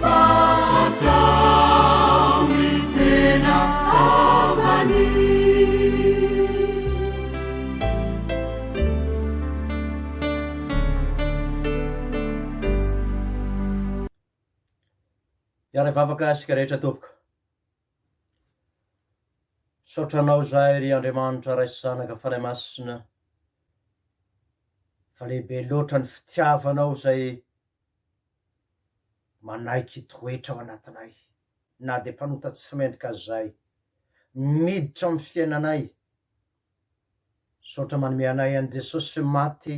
Fa atao ny tena havany. Hiara hivavaka isika rehetra tompoko. Misaotra anao izahay ry Andriamanitra Ray sy Zanaka Fanahy Masina fa lehibe loatra ny fitiavanao izay Manaiky hitoetra ao anatinay, na dia mpanota tsy mendrika aza izahay. Miditra amin'ny fiainanay. Misaotra manome anay an'i Jesosy maty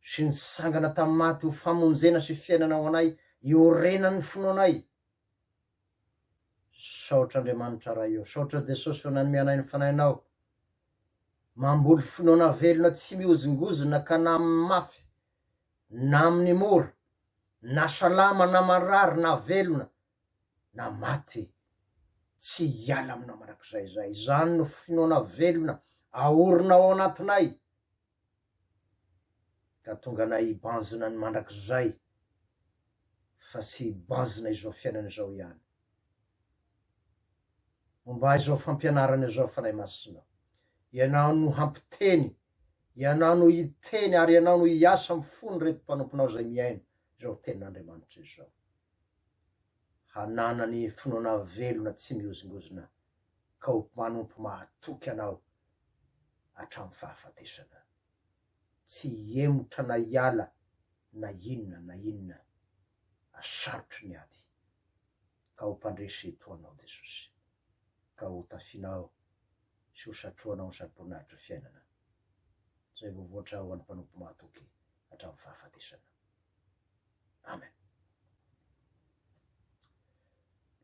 sy nitsangana tamin'ny maty ho famonjena sy fiainana ho anay iorenan'ny finoanay. Misaotra Andriamanitra Ray ô. Misaotra Jesosy fa nanome anay ny Fanahinao. Mamboly finoana velona tsy mihozongozona ka na amin'ny mafy na amin'ny mora, na salama na marary na velona na maty, tsy hiala aminao mandrakizay izay. Izany no finoana velona aorina ao anatinay ka tonga anay hibanjina ny mandrakizay fa tsy hibanjina izao fiainana izao ihany. Momba izao fampianarana izao Fanahy Masina, Ianao no hampiteny Ianao no hiteny ary Ianao no hiasa amin'ny fon'ireto mpanomponao izay mihaino izao tenin'Andriamanitra izao. Hananany finoana velona tsy mihozongozona ka ho mpanompo mahatoky Anao hatramin'ny fahafatesana. Tsy hihemotra na hiala na inona na inona asarotry ny ady ka ho mpandresy toa Anao Jesosy. ka ho tafianao sy ho satrohanao ny saboninahitry ny fiainana, izay voavoatra ho an'ny mpanompo mahatoky hatramin'ny fahafatesana. Amen.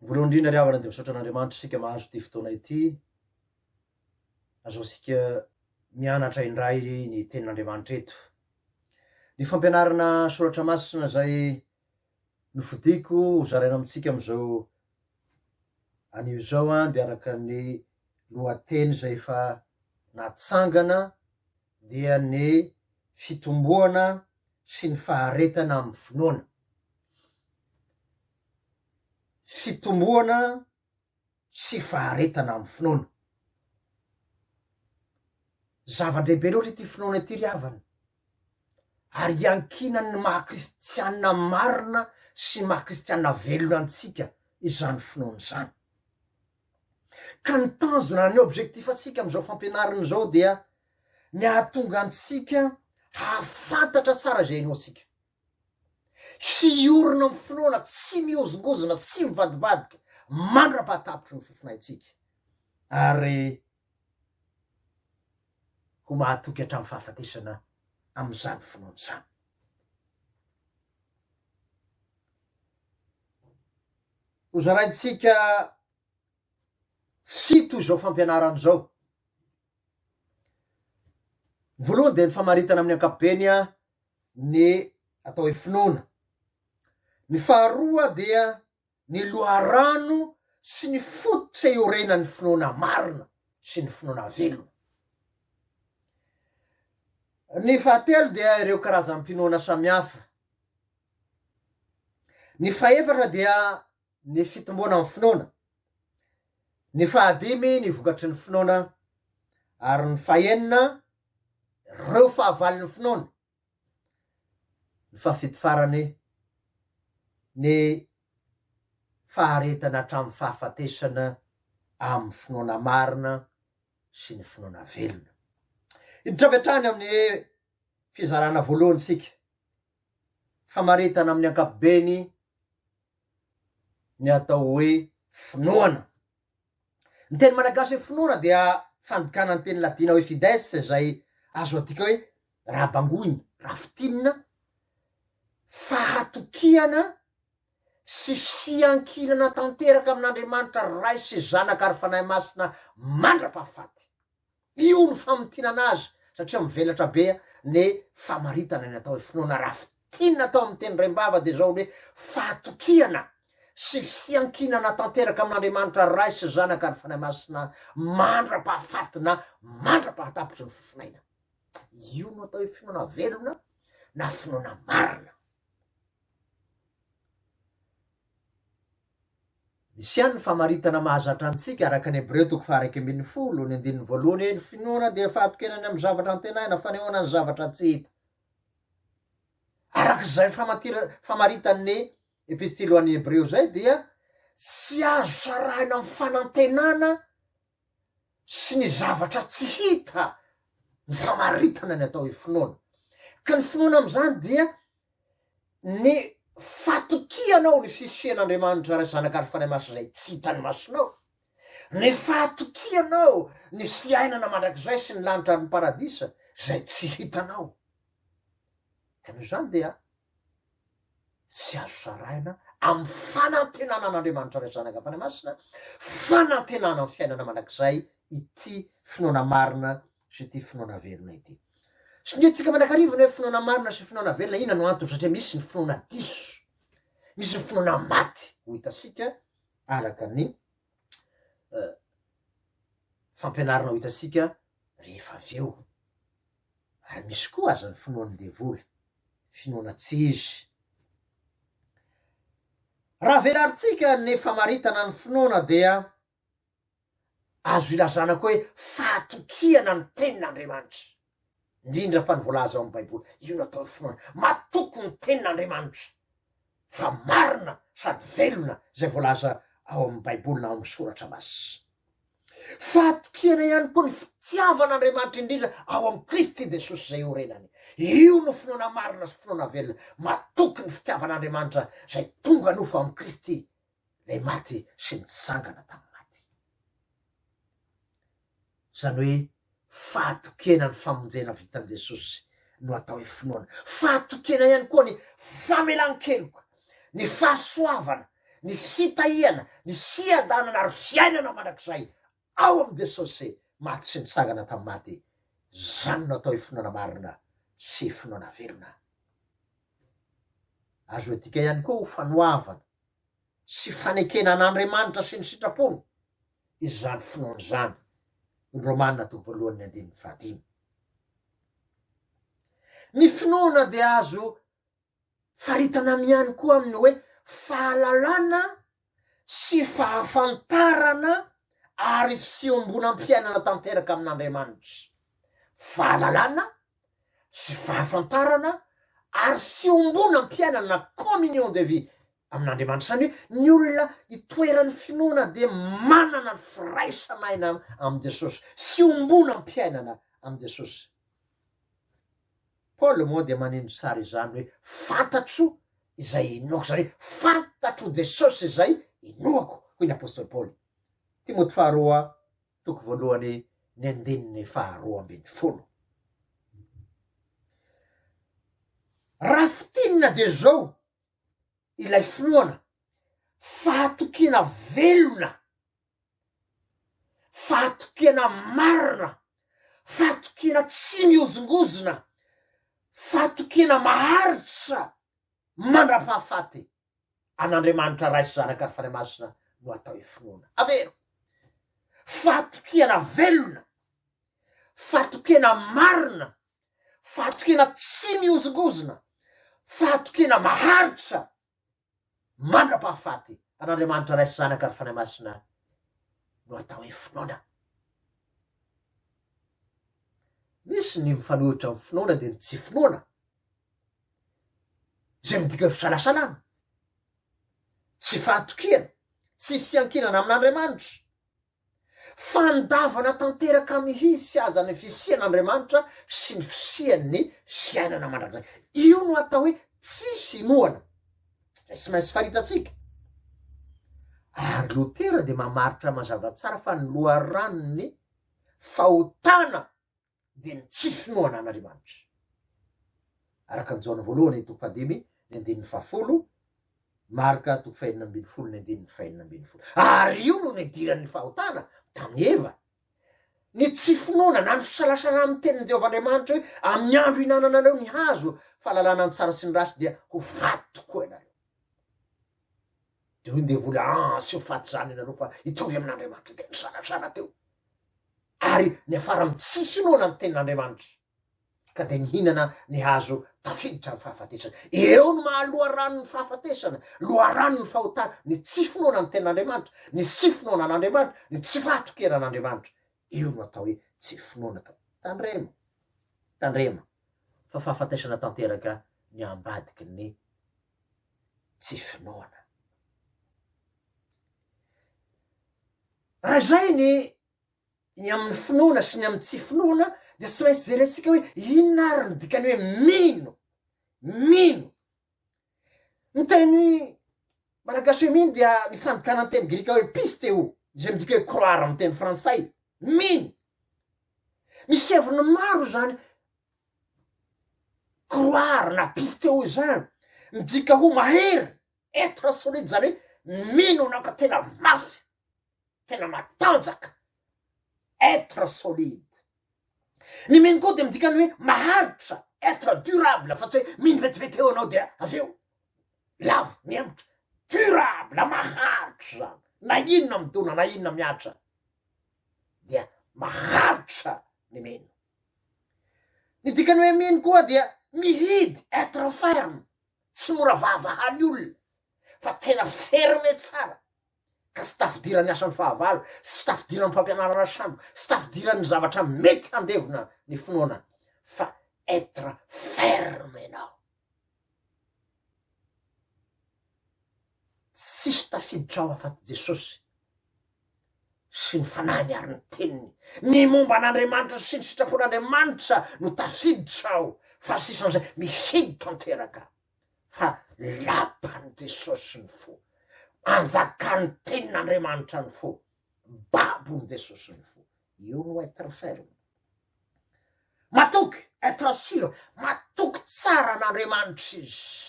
Voalohany indrindra ry havana dia misaotra an'Andriamanitra isika mahazo ity fotoana ity, azahoantsika mianatra indray ny tenin'Andriamanitra eto. Ny fampianarana soratra masina izay Nofidiko ho zaraina amintsika amin'izao anio izao an, dia araka ny lohateny izay efa natsangana dia ny fitomboana sy ny faharetana amin'ny finoana. Fitomboana sy faharetana amin'ny finoana. Zava-dehibe loatra ity finoana ity ry havana, ary iankinan'ny maha kristiana marina sy maha kristiana velona antsika izany finoana izany. Ka ny tanjona, ny objectif antsika amin'izao fampianarana izao dia ny hahatonga antsika hahafantatra tsara izay inoantsika. Hiorina amin'ny finoana tsy mihozongozona sy mivadibadika mandra-pahatapitry ny fofonaintsika, ary ho mahatoky hatramin'ny fahafatesana amin'izany finoana izany. Hozaraintsika fito izao fampianarana izao. Ny voalohany dia ny famaritana amin'ny ankapobeny ny atao hoe finoana. Ny faharoa dia ny loharano sy ny fototra iorenan'ny finoana marina sy ny finoana velona. Ny fahatelo dia ireo karazam-pinoana samihafa. Ny fahefatra dia ny fitomboana ny finoana. Ny fahadimy ny vokatry ny finoana ary ny fahenina reo fahavalon'ny finoana ny fahafidy farany ny faharetana hatramin'ny fahafatesana amin'ny finoana marina sy ny finoana velona hiditra avy hatrany amin'ny fizarana voalohany isika famaritana amin'ny ankapobeny ny atao hoe finoana Ny teny malagasy hoe finoana dia fandikana ny teny latina hoe fides izay azo adika hoe raha bangoina, raha fintinina, fahatokiana sy fiankinana tanteraka amin'Andriamanitra Ray sy Zanaka ary Fanahy Masina mandra-pahafaty. Io no famintinana azy satria mivelatra be ny famaritana ny atao hoe finoana raha fintinina atao amin'ny teny raim-bava dia izao ny hoe fahatokiana sy fiankinana tanteraka amin'Andriamanitra Ray sy Zanaka ary Fanahy Masina mandra-pahafaty na mandra-pahatapitry ny fofona aina. Io no atao hoe finoana velona na finoana marina. Misy ihany ny famaritana mahazatra antsika araka ny Hebreo toko faha-iraika ambin'ny folo, ny andininy voalohany hoe, Ny finoana dia fahatokiana ny amin'ny zavatra antenaina, fanehoana ny zavatra tsy hita. Araka izay famatir- famaritan'ny Epistily ho an'ny Hebreo izay dia tsy azo sarahina amin'ny fanantenana sy ny zavatra tsy hita ny famaritana ny atao hoe finoana. Ka ny finoana amin'izany dia ny fatokianao ny fisian'Andriamanitra Ray, Zanaka ary Fanahy Masina izay tsy hitan'ny masonao, ny fatokianao ny fiainana mandrakizay sy ny lanitra ary ny paradisa izay tsy hitanao. Ka noho izany dia Tsy azo sarahina amin'ny fanantenana an'Andriamanitra Ray, Zanaka, Fanahy Masina, fanantenana amin'ny fiainana mandrakizay ity finoana marina sy ity finoana velona ity. Sonintsika manakariva ny hoe finoana marina sy finoana velona, inona no antony? Satria misy ny finoana diso, misy ny finoana maty, ho hitasika araka ny fampianarana ho hitasika rehefa avy eo. Ary misy koa aza ny finoan'ny devoly, finoana tsy izy. Raha velarintsika ny famaritana ny finoana dia azo ilazana koa hoe fahatokiana ny tenin'Andriamanitra, indrindra fa ny voalaza ao amin'ny Baiboly. Io no atao hoe finoana. Matoky ny tenin'Andriamanitra fa marina sady velona izay voalaza ao amin'ny Baiboly na ao amin'ny soratra masina. Fahatokena ihany koa ny fitiavana Andriamanitra indrindra ao amin'i Kristy Jesosy izay iorenany. Io no finoana marina sy finoana velona matoky ny fitiavan'Andriamanitra izay tonga nofo amin'i Kristy ilay maty sy nitsangana tamin'ny maty. Izany hoe Fahatokiana ny famonjena vitan'i Jesosy no atao hoe finoana. Fahatokiana ihany koa ny famelan-keloka, ny fahasoavana, ny fitahiana, ny fiadanana ary fiainana mandrakizay ao amin'i Jesosy maty sy nitsangana tamin'ny maty. Izany no atao hoe finoana marina sy finoana velona. Azo adika ihany koa ho fanoavana. sy fanekena an'Andriamanitra sy ny sitrapony izany finoana izany, ny Romana toko voalohany ny andininy fahadimy. Ny finoana dia azo faritana miany koa amin'ny hoe fahalalana sy fahafantarana ary fiombonam-piainana tanteraka amin'Andriamanitra, fahalalana sy fahafantarana ary fiombonam-piainana, communion de vie, amin'Andriamanitra. Izany hoe ny olona itoeran'ny finoana dia manana ny firaisan'aina amin'i Jesosy, fiombonam-piainana amin'i Jesosy. Paoly moa dia maneho ny tsara izany hoe fantatro izay inoako, izany hoe fantatro Jesosy izay inoako, hoy ny apostoly Paoly. Timoty faharoa Toko voalohany ny andininy faharoa ambin'ny folo. Raha fintinina dia izao ilay finoana, fahatokiana velona, fahatokiana marina, fahatokiana tsy mihozongozona, fahatokiana maharitra mandra-pahafaty. an'Andriamanitra Ray sy Zanaka ary Fanahy Masina no atao hoe finoana. Avero. Fahatokiana velona, fahatokiana marina, fahatokiana tsy mihozongozona, fahatokiana maharitra mandra-pahafaty an'Andriamanitra Ray sy Zanaka ary Fanahy Masina no atao hoe finoana. Misy ny mifanohitra amin'ny finoana dia ny tsy finoana. izay midika hoe fisalasalana, tsy fahatokiana, tsy fiankilana amin'Andriamanitra, fandavana tanteraka mihitsy aza ny fisian'Andriamanitra sy ny fisian'ny fiainana mandrakizay. Io no atao hoe tsisy inoana, izay tsy maintsy faritantsika. Ary Lotera dia mamaritra mazava tsara fa ny loharanon'ny fahotana dia ny tsy finoana an'Andriamanitra. Araka ny Jaona voalohany toko fahadimy ny andininy fahafolo, Marka toko fahenina ambin'ny folo ny andininy fahenina ambin'ny folo. Ary io no nidiran'ny fahotana tamin'i Eva. Ny tsy finoana na ny fisalasana amin'ny tenin'i Jehovah Andriamanitra hoe amin'ny andro hinananareo ny hazo fahalalana ny tsara sy ny ratsy dia ho faty tokoa ianareo. Dia hoy ny devoly, ah, sy ho faty izany ianareo fa hitovy amin'Andriamanitra. Dia nisalasala teo. Ary niafara amin'ny tsy finoana ny tenin'Andriamanitra, ka dia nihinana ny hazo tafiditra amin'ny fahafatesana. Eo no maha loharanon'ny fahafatesana, loharanon'ny fahotana, ny tsy finoana ny tenin'Andriamanitra, ny tsy finoana an'Andriamanitra, ny tsy fahatokiana an'Andriamanitra. Io no atao hoe tsy finoana. Ka tandremo, tandremo fa fahafatesana tanteraka ny ambadiky ny tsy finoana. Raha izay ny Ny amin'ny finoana sy ny amin'ny tsy finoana dia tsy maintsy jerentsika hoe inona ary ny dikany hoe mino, mino. Ny teny malagasy hoe mino dia ny fandikana ny teny grika hoe pisteo, izay midika hoe croire amin'ny teny frantsay, mino. Misy heviny maro izany croire na pisteo izany, midika ho mahery, être solide, izany hoe mino anao ka tena mafy, tena matanjaka, être solide. Ny mino koa dia midika ny hoe maharitra, être durable, fa tsy hoe mino vetivety eo anao dia avy eo lavo mihemotra. Durable, maharitra zany, na inona midona, na inona miatra dia maharitra ny mino. Ny dikany hoe mino koa dia mihidy, être ferme, tsy mora vahavahan'ny olona, fa tena ferme tsara, ka tsy tafidiran'ny asan'ny fahavalo, sy tsy tafidiran'ny fampianarana sambo, sy tsy tafidiran'ny zavatra mety handevona ny finoana, fa être ferme ianao. Tsisy tafiditra ao afaty Jesosy sy ny fanahiny ary ny teniny. Ny momba an'Andriamanitra sy ny sitrapon'Andriamanitra no tafiditra ao, fa ny sisan'izay mihidy tanteraka. fa lapan'i Jesosy ny fo, anjakan'ny tenin'Andriamanitra ny fo, babon'i Jesosy ny fo. Io no être ferme. Matoky, être sûr, matoky tsara an'Andriamanitra izy.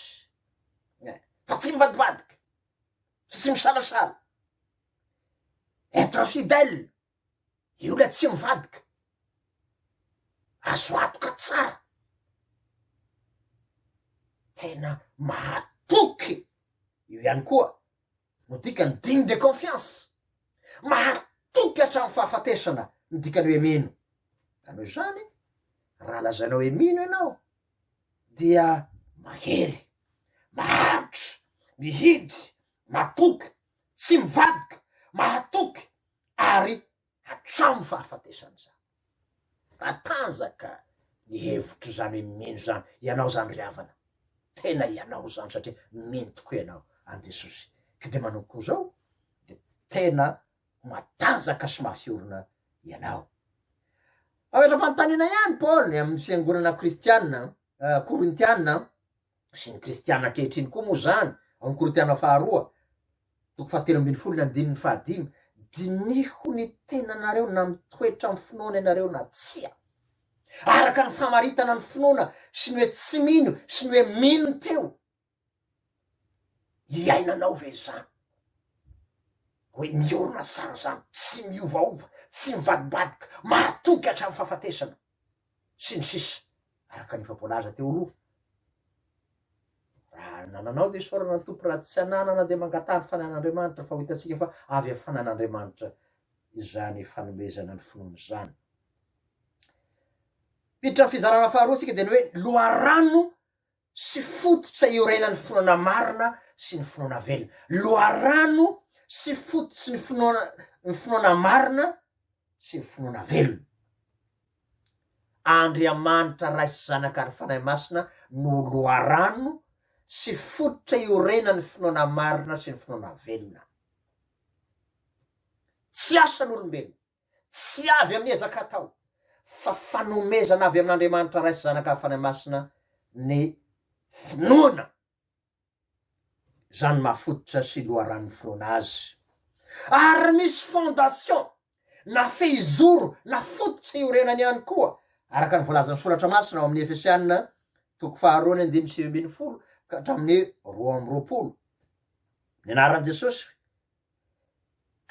Eh, fa tsy mivadibadika, tsy misalasaly. Être fidèle, Io ilay tsy mivadika. Azo antoka tsara. Tena mahatoky. Io ihany koa no dikany digne de confiance. Mahatoky hatramin'ny fahafatesana ny dikany hoe mino. Ka noho izany, raha lazainao hoe mino ianao, dia mahery, maharitra, mihidy, matoky, tsy mivadika, mahatoky ary hatramin'ny fahafatesany izany. Matanjaka ny hevitro izany hoe mino izany ianao izany ry havana, tena ianao izany satria mino tokoa ianao an'i Jesosy ka dia manompo koa izao dia tena ho matanjaka sy mafy orina ianao. Aotra-panontaniana ihany Paoly amin'ny fiangonana kristiana Korintiana sy ny kristiana ankehitriny koa moa izany, ao amin'ny Korintiana faharoa, toko fahatelo ambin'ny folo ny andininy fahadimy, diniho ny tenanareo na mitoetra amin'ny finoana ianareo na tsia, araka ny famaritana ny finoana sy ny hoe tsy mino sy ny hoe mino teo, iainanao ve izany? hoe miorina tsara izany, tsy miovaova, tsy mivadibadika, mahatoky hatramin'ny fahafatesana. sy ny sisa araka ny efa voalaza teo aloha. Raha nananao dia isaorana ny Tompo, raha tsy ananana dia mangataha ny fananan'Andriamanitra fa ho hitantsika fa avy amin'ny fananan'Andriamanitra izany fanomezana ny finoana izany. Miditra amin'ny fizarana faharoa isika dia ny hoe loharano sy fototra iorenan'ny finoana marina sy ny finoana velona. Loharano sy fototry ny finoana ny finoana marina sy ny finoana velona. Andriamanitra Ray sy Zanaka ary Fanahy Masina no loharano sy fototra iorenan'ny finoana marina sy ny finoana velona. Tsy asan'olombelona. Tsy avy amin'ny ezaka atao, fa fanomezana avy amin'Andriamanitra Ray sy Zanaka ary Fanahy Masina ny finoana. Izany no mahafototra sy loharanon'ny finoana Azy. Ary misy fondation na fehizoro na fototra iorenany ihany koa, araka ny voalazan'ny Soratra Masina ao amin'ny Efesiana toko faharoa ny andininy sivy ambin'ny folo ka hatramin'ny roa amby roapolo. Ny anaran'i Jesosy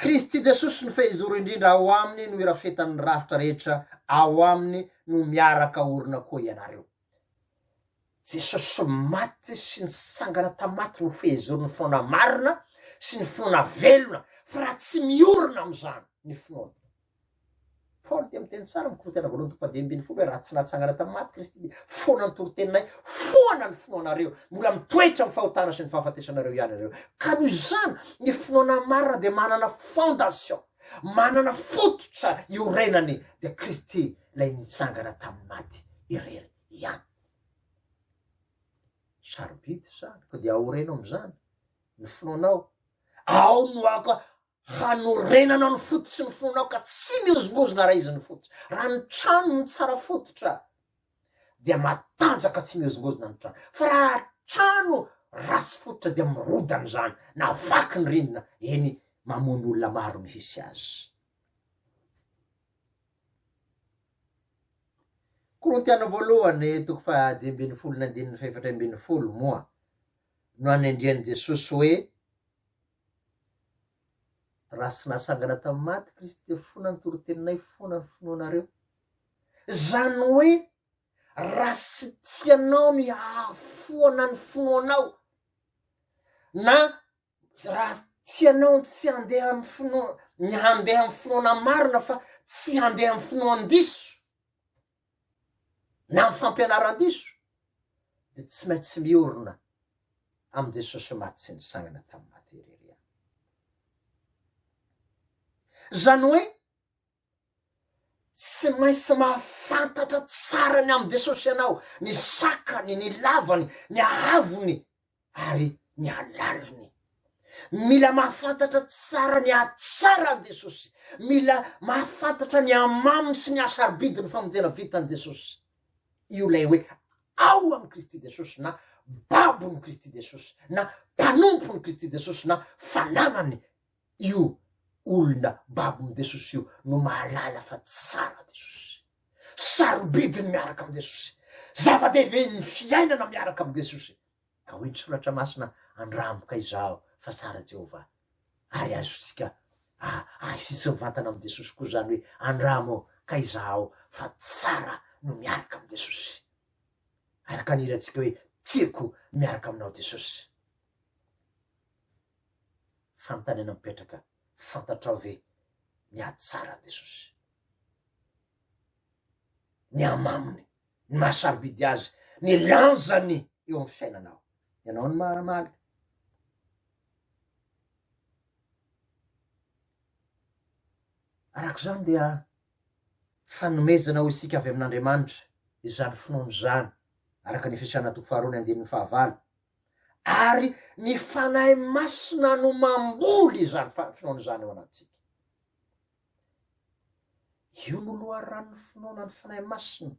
Kristy Jesosy no fehizoro indrindra ao aminy no irafetan'ny rafitra rehetra ao aminy no miaraka orina koa ianareo. Jesosy maty sy nitsangana tamaty no fehizoron'ny finoana marina sy ny finoana velona fa raha tsy miorina amin'izany ny finoana. Paoly dia miteny tsara amin'ny Korinthiana voalohany toko fahadimy ambin'ny folo hoe raha tsy natsangana tamin'ny maty Kristy dia foana ny toriteny-nay, foana ny finoanareo, mbola mitoetra amin'ny fahotana sy ny fahafatesanareo ihany ianareo. Ka noho izany, ny finoana marina dia manana fondation, manana fototra iorenany, dia Kristy ilay nitsangana tamin'ny maty irery ihany. Sarobidy izany, koa dia aoreno amin'izany ny finoanao. Ao no ako Hanorenana ny fo sy ny fonao ka tsy mihozongozona raha izy ny fo tsy. Raha ny trano no tsara fototra dia matanjaka tsy mihozongozona ny trano. Fa raha trano ratsy fototra dia mirodana izany na vaky ny rindrina, eny mamono olona maro ny hisy azy. Korintiana voalohany toko faha dimy ambin'ny folo ny andininy fahefatra ambin'ny folo moa no anendrian'i Jesosy hoe Raha tsy natsangana tamin'ny maty Kristy dia fona ny toriteninay, fona ny finoanareo. Izany hoe raha tsy tianao ny hahafoana ny finoanao na raha tianao ny tsy handeha amin'ny finoana, ny handeha amin'ny finoana marina fa tsy handeha amin'ny finoan-diso, na ny fampianaran-diso dia tsy maintsy miorina amin'i Jesosy maty sy nisangana tamin'ny maty irery ihany. Izany hoe tsy maintsy mahafantatra tsara ny amin'i Jesosy ianao, ny sakany, ny lavany, ny haavony, ary ny halaliny. Mila mahafantatra tsara ny hatsara an'i Jesosy. Mila mahafantatra ny hamaminy sy ny hahasarobidy ny famonjena vitan'i Jesosy. Io ilay hoe ao amin'i Kristy Jesosy na babon'i Kristy Jesosy na mpanompon'i Kristy Jesosy na fananan'i Io olona babo amin'i Jesosy io no mahalala fa tsara Jesosy. Sarobidy ny miaraka amin'i Jesosy. Zava-dehibe ny fiainana miaraka amin'i Jesosy. Ka hoy ny Soratra Masina, Andramo ka izaho fa tsara Jehovah. Ary azontsika ahitsy mivantana amin'i Jesosy koa izany hoe andramo ka izaho fa tsara no miaraka amin'i Jesosy. Araka ny hirantsika hoe tiako miaraka aminao Jesosy. Fanontaniana mipetraka, fantatrao ve ny ady tsara an'i Jesosy? Ny hamaminy, ny maha sarobidy azy, ny lanjany eo amin'ny fiainanao. Ianao no mamaly. Araka izany dia fanomezana ho isika avy amin'Andriamanitra izany finoana izany, araka ny Efesiana toko faharoa ny andininy fahavalo, ary ny Fanahy Masina no mamboly izany finoana izany ao anatintsika. Io no loharanon'ny finoana ny Fanahy Masina.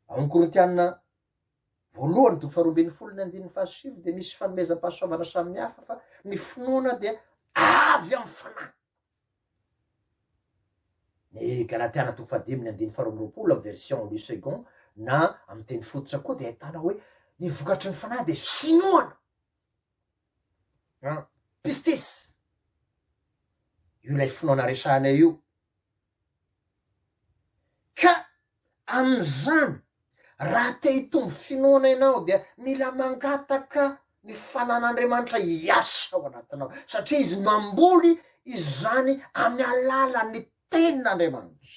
Ao amin'ny Korintiana voalohany toko faharoa ambin'ny folo ny andininy fahasivy dia misy fanomezam-pahasoavana samihafa fa ny finoana dia avy amin'ny fanahy. Ny Galatiana toko fahadimy ny andininy faharoa amby roapolo amin'ny version Louis Segond na amin'ny teny fototra koa dia ahitana hoe ny vokatry ny fanahy dia finoana an pistis io ilay finoana resahanay io ka Amin'izany, raha te hitombo finoana ianao dia mila mangataka ny fanan'Andriamanitra hiasa ao anatinao, satria Izy mamboly izany amin'ny alalan'ny Tenin'Andriamanitra.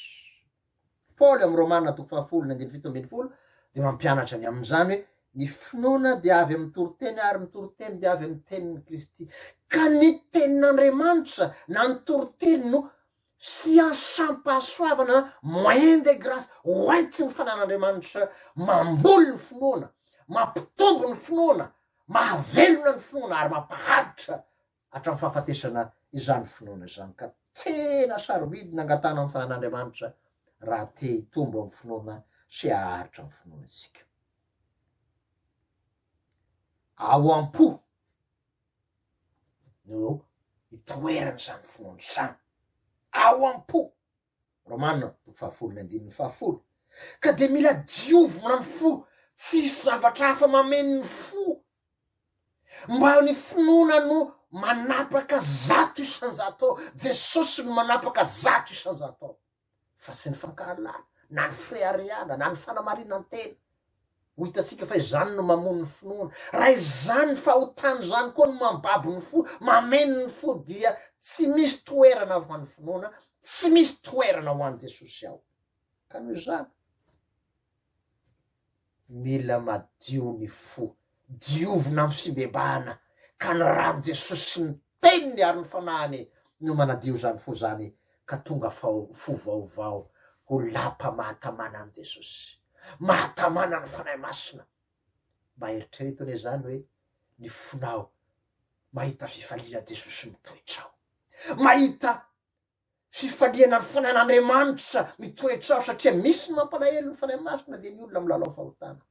Paoly amin'ny Romana toko fahafolo ny andininy fito ambin'ny folo dia mampianatra ny amin'izany hoe, Ny finoana dia avy amin'ny toriteny ary ny toriteny dia avy amin'ny tenin'i Kristy. Ka ny Tenin'Andriamanitra na ny toriteny no sy asam-pahasoavana moyen de grace hoentin'ny fanan'Andriamanitra mamboly ny finoana, mampitombo ny finoana, mahavelona ny finoana ary mampaharitra hatramin'ny fahafatesana izany finoana izany ka tena sarobidy ny angatahana ny fanan'Andriamanitra raha te hitombo amin'ny finoana sy haharitra ny finoana isika. Ao am-po. no eo itoeran'izany finoana izany, ao am-po, Romana toko fahafolo ny andininy fahafolo, ka dia mila diovina ny fo, tsy hisy zavatra hafa mameno ny fo, mba eo ny finoana no manapaka zato isan-jato ao, Jesosy no manapaka zato isan-jato ao. fa tsy ny fankahalana na ny fireharehana na ny fanamarinan-tena. Ho hitantsika fa izany no mamono ny finoana. Raha izany ny fahotana izany koa no mambabo ny fo, mameno ny fo dia tsy misy toerana ho an'ny finoana, tsy misy toerana ho an'i Jesosy ao. Ka noho izany, Mila madio ny fo, diovina amin'ny fibebahana, ka ny ran'i Jesosy sy ny Teniny ary ny Fanahiny no manadio izany fo izany ka tonga fo vaovao. Ho lapa mahatamana an'i Jesosy, mahatamana ny Fanahy Masina. Mba eritrereto anie izany hoe ny fonao mahita fifaliana Jesosy mitoetra ao, mahita Fifaliana ny Fanahin'Andriamanitra mitoetra ao satria misy ny mampalahelo ny Fanahy Masina dia ny olona milalao fahotana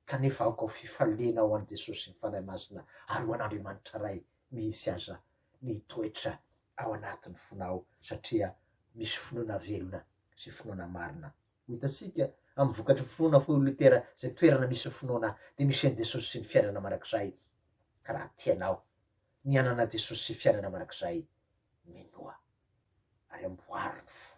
kanefa aoka ho fifaliana ho an'i Jesosy sy ny Fanahy Masina ary ho an'Andriamanitra Ray mihitsy aza ny hitoetra ao anatin'ny fonao satria misy finoana velona sy finoana marina. Ho hitantsika amin'ny vokatry ny finoana fa hoy Lutera izay toerana misy ny finoana dia misy an'i Jesosy sy ny fiainana mandrakizay ka raha tianao ny hanana Jesosy sy fiainana mandrakizay Minoa, ary amboary ny fo.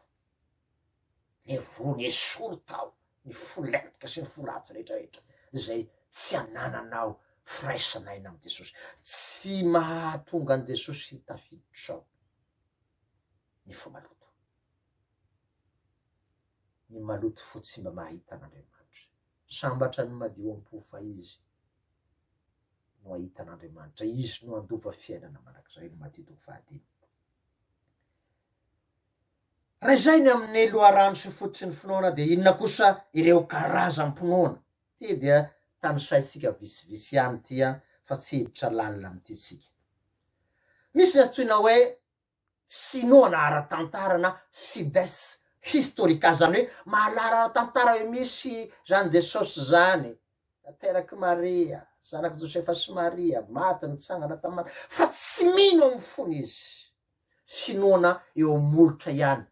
Ny voany esory tao ny fo lentika sy ny fo ratsy rehetrarehetra izay tsy anananao firaisana aina amin'i Jesosy. Tsy mahatonga an'i Jesosy hitafiditra ao ny fo maloto. Ny maloto fo tsy mba mahita an'Andriamanitra. Sambatra ny madio am-po fa Izy no hahita an'Andriamanitra, Izy no handova fiainana mandrakizay, ny Matio toko fahadimy. Raha izay ny amin'ny loharano sy fototry ny finoana dia inona kosa ireo karazam-pinoana? Ity dia tanisaintsika visivisy ihany ity an, fa tsy hiditra lalina amin'ity isika. Misy ny antsoina hoe Sinoana ara-tantara na Sides historica zany hoe mahalala ara-tantara hoe misy zany Jesosy zany, naterak'i Maria, zanak'i Josefa sy Maria, maty, nitsangana tamin'ny maty, fa tsy mino ao amin'ny fony izy. Sinoana eo amin'ny molotra ihany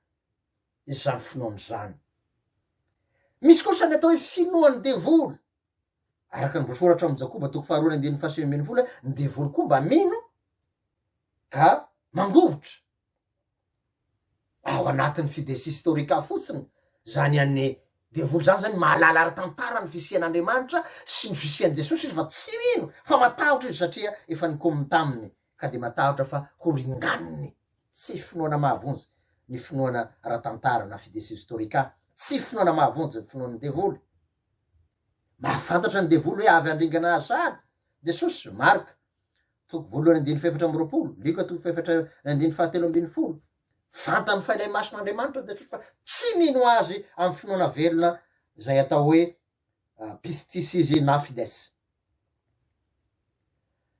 izany finoana izany. Misy kosa ny atao hoe finoan'ny devoly. Araka ny voasoratra ao amin'ny Jakoba toko faharoa ny andininy fahasivy ambin'ny folo, ny devoly koa mba mino ka mangovitra ao anatin'ny fides historica fotsiny, zany an'ny devoly zany zany mahalala ara-tantara ny fisian'Andriamanitra sy ny fisian'i Jesosy izy fa tsy mino fa matahotra izy satria efa nikomy taminy ka dia matahotra fa ho ringaniny, tsy finoana mahavonjy ny finoana ara-tantara na fides historica, tsy finoana mahavonjy ny finoan'ny devoly. Mahafantatra ny devoly hoe avy handringana azy sahady, Jesosy, Mark, toko voalohany andininy fahefatra amby roapolo, Lioka toko fahefatra andininy fahatelo ambin'ny folo. Fantany fa ilay Masin'Andriamanitra Jesosy fa tsy mino azy amin'ny finoana velona izay atao hoe pistis izy na fides.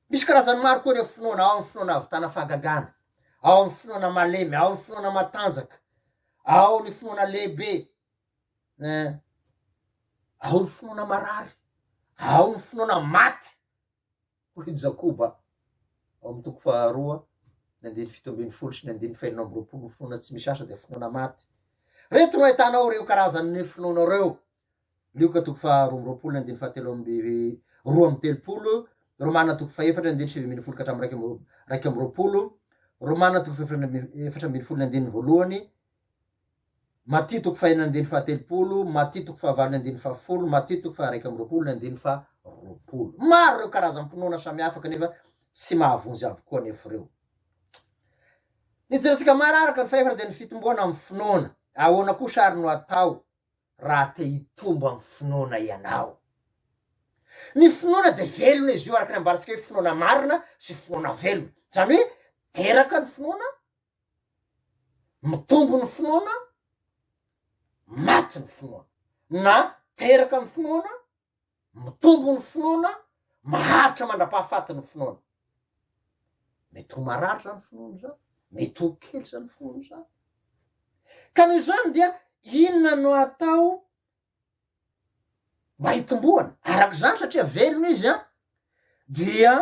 Misy karazany maro koa ireo finoana, ao amin'ny finoana havitana fahagagana, ao amin'ny finoana malemy, ao amin'ny finoana matanjaka, ao ny finoana lehibe, eh, ao ny finoana marary, ao ny finoana maty, hoy i Jakoba ao amin'ny toko faharoa ny andininy fito ambin'ny folo sy ny andininy fahenina amby roapolo, ny finoana tsy misy asa dia finoana maty. Reto no ahitanao ireo karazan'ny finoana ireo, Lioka toko faharoa amby roapolo ny andininy fahatelo amby roa amby telopolo, Romana toko fahefatra ny andininy sivy ambin'ny folo ka hatramin'ny raika amby roapolo, Romana toko fahefatra ambin'ny folo ny andininy voalohany, Matio toko fahenina andininy fahatelopolo, Matio toko fahavalo ny andininy fahafolo, Matio toko faharaika amby roapolo ny andininy faharoapolo. Maro ireo karazam-pinoana samihafa kanefa tsy mahavonjy avokoa anefa ireo. Ny jerentsika maro araka ny fahefana dia ny fitomboana amin'ny finoana. Ahoana kosa ary no atao raha te hitombo amin'ny finoana ianao? Ny finoana dia velona izy io araka ny ambarantsika hoe finoana marina sy finoana velona. Izany hoe teraka ny finoana Mitombo ny finoana, maty ny finoana. Na teraka ny finoana, mitombo ny finoana, maharitra mandra-pahafaty ny finoana. Mety ho marary izany finoana izany, mety ho kely izany finoana izany. Ka noho izany dia inona no atao mba hitomboana? Araka izany satria velona izy an, dia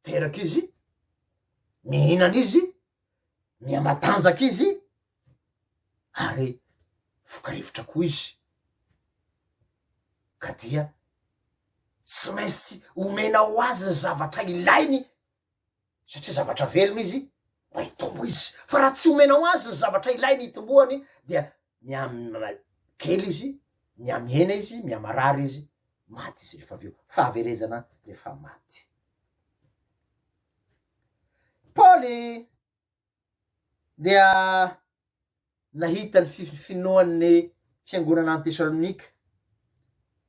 teraka izy, mihinana izy, miha-matanjaka izy ary vokarivotra koa izy ka dia tsy maintsy omena ho azy ny zavatra ilainy satria zavatra velona izy mba hitombo izy fa raha tsy omena ho azy ny zavatra ilainy hitomboany dia miha-mimay kely izy, miha-mihena izy, miha-marary izy. Maty izy rehefa avy eo. Fahaverezana rehefa maty. Paoly dia nahita ny finoan'ny fiangonana any Tesalonika.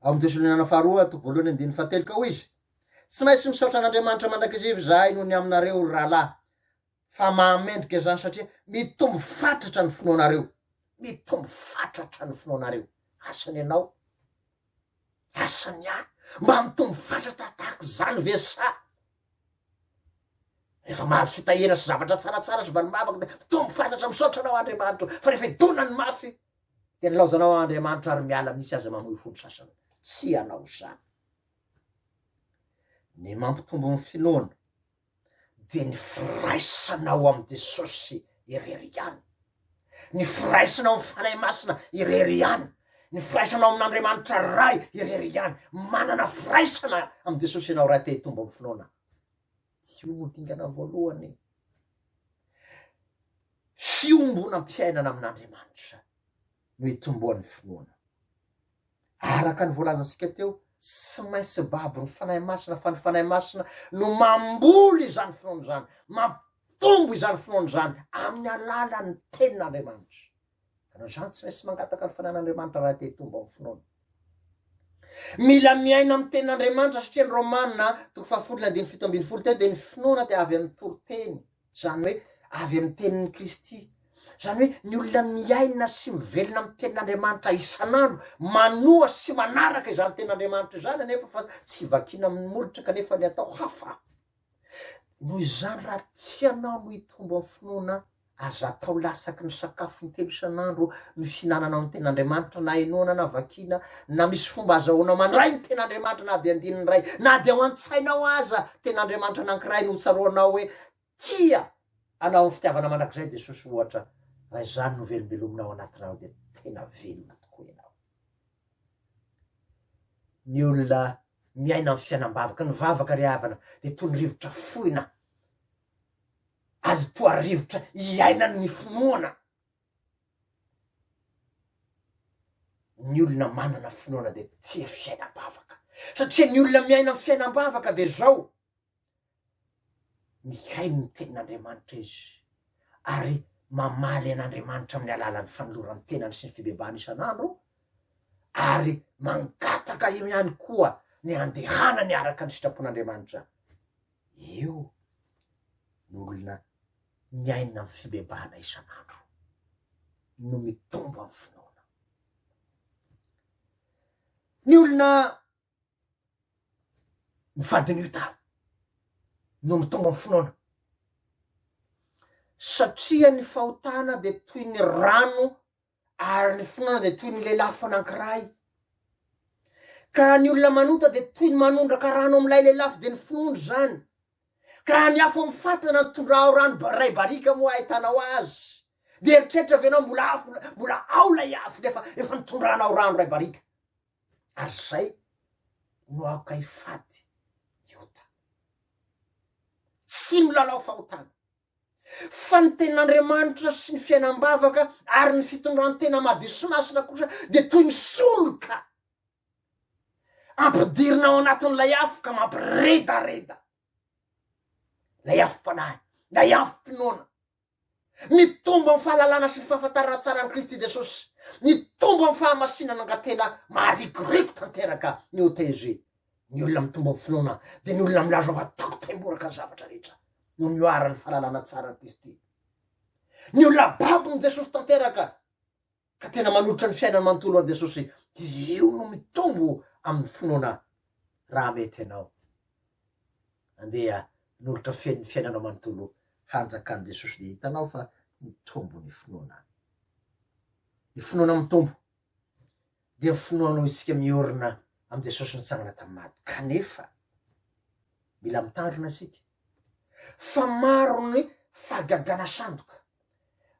Ao amin'ny Tesaloniana faharoa toko voalohany andininy fahatelo ka hoy izy, Tsy maintsy misaotra an'Andriamanitra mandrakizay izahay noho ny aminareo, ry rahalahy. Fa mahamendrika izany satria mitombo fatratra ny finoanareo. Mitombo fatratra ny finoanareo. Asan'ny anao? Asan'ny ahy? Mba mitombo fatratra tahaka izany ve sa? Rehefa mahazo fitahiana sy zavatra tsaratsara sy valim-bavaka dia mitombo fatratra misaotra anao Andriamanitro fa rehefa idona ny mafy dia nilaozanao Andriamanitro ary miala misy aza mamoy fo ny sasany. Tsy ianao izany. Ny mampitombo ny finoana. dia ny firaisana ao amin'i Jesosy irery ihany, ny firaisana ao amin'ny Fanahy Masina irery ihany, ny firaisana ao amin'Andriamanitra Ray irery ihany. Manana firaisana amin'i Jesosy ianao raha te hitombo amin'ny finoana. Io no dingana voalohany. Fiombonam-piainana amin'Andriamanitra no itomboan'ny finoana. Araka ny voalazantsika teo, tsy maintsy babon'ny Fanahy Masina fa ny Fanahy Masina no mamboly izany finoana izany, mampitombo izany finoana izany amin'ny alalan'ny Tenin'Andriamanitra. Ka noho izany tsy maintsy mangataka ny Fanahin'Andriamanitra raha te hitombo amin'ny finoana. Mila miaina amin'ny tenin'Andriamanitra satria ny Romana toko fahafolo ny andininy fito ambin'ny folo teo dia ny finoana dia avy amin'ny toriteny. Izany hoe avy amin'ny tenin'i Kristy. Izany hoe ny olona miaina sy mivelona amin'ny tenin'Andriamanitra isan'andro, manoa sy manaraka izany tenin'Andriamanitra izany anefa fa tsy vakiana amin'ny molotra kanefa ny atao hafa. Noho izany raha tianao no hitombo amin'ny finoana, aza atao lasaky ny sakafo intelo isan'andro no hihinananao ny tenin'Andriamanitra na henoana na vakiana, Na misy fomba azahoanao mandray ny ten'Andriamanitra na dia andininy iray, na dia ao an-tsainao aza, ten'Andriamanitra anankiray no hotsaroanao hoe tia anao amin'ny fitiavana mandrakizay Jesosy ohatra, raha izany no velombelomina ao anatinao dia tena velona tokoa ianao. Ny olona miaina amin'ny fiainam-bavaka, ny vavaka ry havana dia toy ny rivotra fohina, azy toa rivotra iainan'ny finoana. Ny olona manana finoana dia tia fiainam-bavaka satria ny olona miaina ny fiainam-bavaka dia izao, mihaino ny tenin'Andriamanitra izy ary mamaly an'Andriamanitra amin'ny alalan'ny fanoloran-tenany sy ny fibebahany isan'andro ary mangataka eo ihany koa ny handehanany araka ny sitrapon'Andriamanitra. Io no olona miaina amin'ny fibebahana isan'andro no mitombo amin'ny finoana. Ny olona mifadin'io tany no mitombo amin'ny finoana satria ny fahotana dia toy ny rano Ary ny finoana dia toy ny lelafo anankiray. Ka raha ny olona manota dia toy ny manondraka rano amin'ilay lelafo dia ny finoana izany. Ka raha ny afo mifatana no tondrahao rano ba- iray barika moa ahitanao azy, dia eritreritra ve ianao mbola afo, mbola ao ilay afo nefa efa nitondranao rano iray barika? Ary izay no aoka hifady ny ota. Tsy milalao fahotana. Fa ny tenin'Andriamanitra sy ny fiainam-bavaka ary ny fitondran-tena madio sy masina kosa dia toy ny soroka ampidirina ao anatin'ilay afo ka mampiredareda ilay afom-panahy, ilay afom-pinoana. Mitombo amin'ny fahalalana sy ny fahafantarana tsara an'i Kristy Jesosy, mitombo amin'ny fahamasinana angatena maharikoriko tanteraka ny OTG. Ny olona mitombo amin'ny finoana dia ny olona milaza fa tiako taimboraka ny zavatra rehetra noho ny oharan'ny fahalalana tsara an'i Kristy. Ny olona babon'i Jesosy tanteraka ka tena manolotra ny fiainany manontolo ho an'i Jesosy dia io no mitombo amin'ny finoana raha mety ianao. Andeha nolotra feno ny fiainanao manontolo hanjakan'i Jesosy dia hitanao fa mitombo ny finoana. Ny finoana mitombo dia finoanao isika miorina amin'i Jesosy nitsangana tamin'ny maty. Kanefa, mila mitandrina isika, fa maro ny fahagagana sandoka,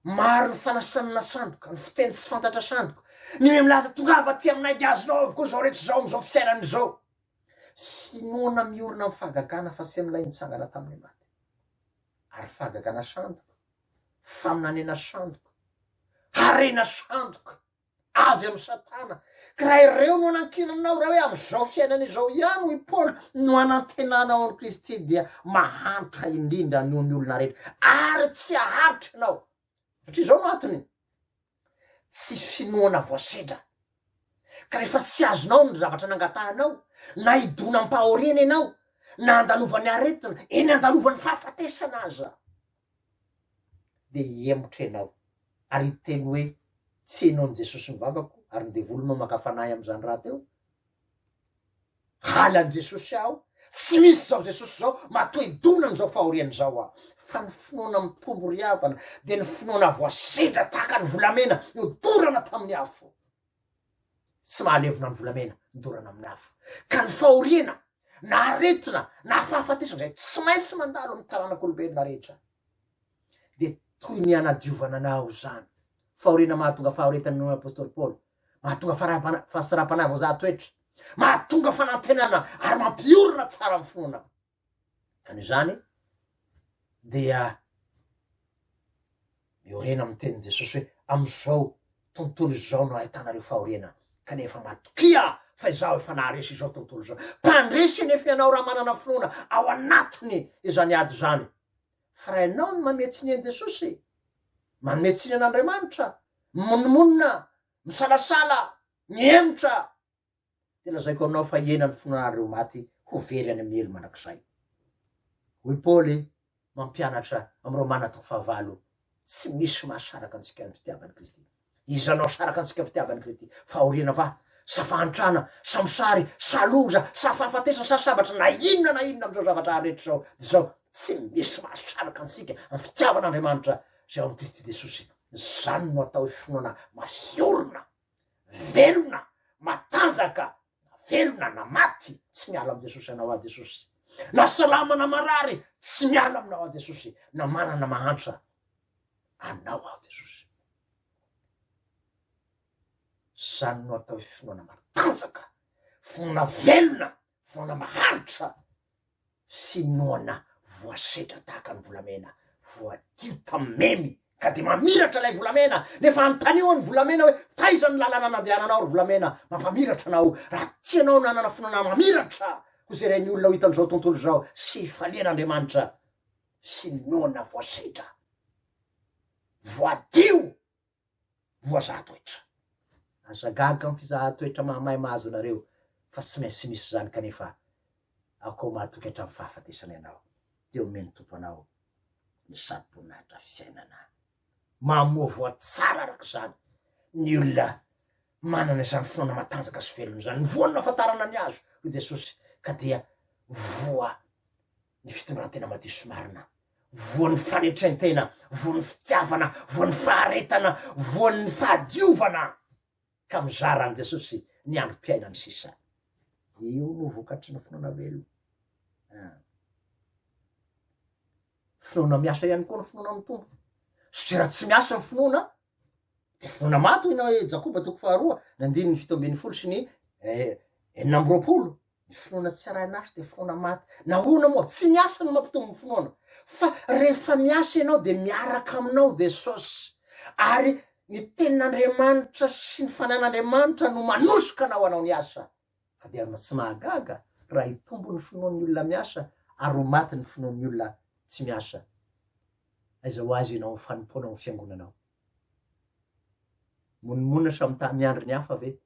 maro ny fanasitranana sandoka, ny fiteny tsy fantatra sandoka, ny hoe milaza tongava aty aminay dia azonao avokoa izao rehetra izao amin'izao fisainana izao. Finoana miorina amin'ny fahagagana fa se milay nitsangana tamin'ny maty. Ary fahagagana sandoka, faminaniana sandoka, harena sandoka avy amin'i Satana, ka raha ireo no anankinanao, raha hoe amin'izao fiainana izao ihany, hoy Paoly, no anantenanao an'i Kristy dia mahantra indrindra noho ny olona rehetra, ary tsy haharitra ianao, satria izao no antony, Tsy finoana voasedra. Ka rehefa tsy azonao ny zavatra nangatahanao, na hidonam-pahoriana ianao, na andalovan'ny aretina, eny andalovan'ny fahafatesana aza, dia hihemotra ianao ary hiteny hoe, Tsy henoan'i Jesosy ny vavako ary ny devoly no maka fanahy amin'izany rahateo? Halan'i Jesosy aho, tsy misy izao Jesosy izao, matoa hidona amin'izao fahoriana izao aho. Fa ny finoana mitombo ry havana dia ny finoana voasedra tahaka ny volamena nodorana tamin'ny afo. Tsy mahalevona ny volamena nodorana amin'ny afo. Ka ny fahoriana, na aretina, na fahafatesana izay tsy maintsy mandalo amin'ny taranak'olombelona rehetra dia toy ny hanadiovana anao izany. Fahoriana mahatonga fahaoretan'ny noho ny apostoly Paoly, mahatonga fahasarapanavo za toetra. mahatonga fanantenana ary mampiorina tsara ny finoana. Ka noho izany dia miorena amin'ny tenin'i Jesosy hoe amin'izao tontolo izao no ahitanareo fahoriana kanefa matokia fa izaho efa naharesy izao tontolo izao. Mpandresy anefa ianao raha manana finoana ao anatiny izany ady izany. Fa raha ianao no manome tsiny an'i Jesosy, manome tsiny an'Andriamanitra, mimonomonona, misalasala, Mihemotra aho, dia lazaiko aminao fa hihena ny fon'anareo maty ho very any amin'ny helo mandrakizay. Hoy Paoly, mampianatra amin'ireo manatoko fahavalo, Tsy misy mahasaraka antsika ny fitiavan'i Kristy. Iza no hasaraka antsika ny fitiavan'i Kristy? Fahoriana va, sa fahantrana, sa mosary, sa loza, sa fahafatesana, sa sabatra, na inona na inona amin'izao zavatra hafa rehetra izao? Dia izao, Tsy misy mahasaraka antsika ny fitiavan'Andriamanitra izay ao amin'i Kristy Jesosy. Izany no atao hoe finoana mahay orina. Velona, matanjaka, na velona na maty, tsy miala amin'i Jesosy anao aho Jesosy. Na salama na marary, tsy miala aminao aho Jesosy, na manana na mahantra, anao aho Jesosy. Zany no atao hoe finoana matanjaka, finoana velona, finoana maharitra. sy noana voasedra tahaka ny volamena voadio tamin'ny memy ka dia mamiratra ilay volamena nefa anontanio an'ny volamena hoe taiza ny lalana nandehananao ry volamena mampamiratra anao raha tianao ny nanana fonana mamiratra ho zeren'ny olona ho hitan'izao tontolo izao sy hifaliana Andriamanitra sy noana voasedra voadio voazaha toetra. Aza gaga am fizahan-toetra mahamay mahazo anareo fa tsy maintsy misy izany kanefa akoa mahatoky hatramin'ny fahafatesana ianao dia omen'ny Tompo anao ny sarom-boninahitra fiainana mamoa voa tsara araka izany ny olona manana izany finoana matanjaka sy velona izany. Ny voany no ahafantarana ny azo hoy Jesosy ka dia voa ny fitondrantena madio sy marina, voan'ny fanetrentena, voan'ny fitiavana, voan'ny faharetana, voan'ny fahadiovana ka mizara an'i Jesosy ny androm-piainany sisa. Io no vokatry ny finoana velona. Ah. Finoana miasa ihany koa ny finoana amin'ny Tompo. Satria raha tsy miasa ny finoana, Dia voana maty hoy na hoe Jakoba toko faharoa ny andininy fito ambin'ny folo sy ny eh, enina amby roapolo. Ny finoana tsy arahin'asa dia finoana maty. Nahoana moa? Tsy ny asa no mampitombo ny finoana. Fa rehefa miasa ianao dia miaraka aminao Jesosy. Ary ny tenin'Andriamanitra sy ny fanahin'Andriamanitra no manosika anao hanao ny asa. Fa dia tsy mahagaga raha hitombo ny finoan'ny olona miasa ary ho maty ny finoan'ny olona tsy miasa. Aiza ho aiza ianao amin'ny fanompoana ao amin'ny fiangonanao? Monomonona samy ta miandry ny hafa ve?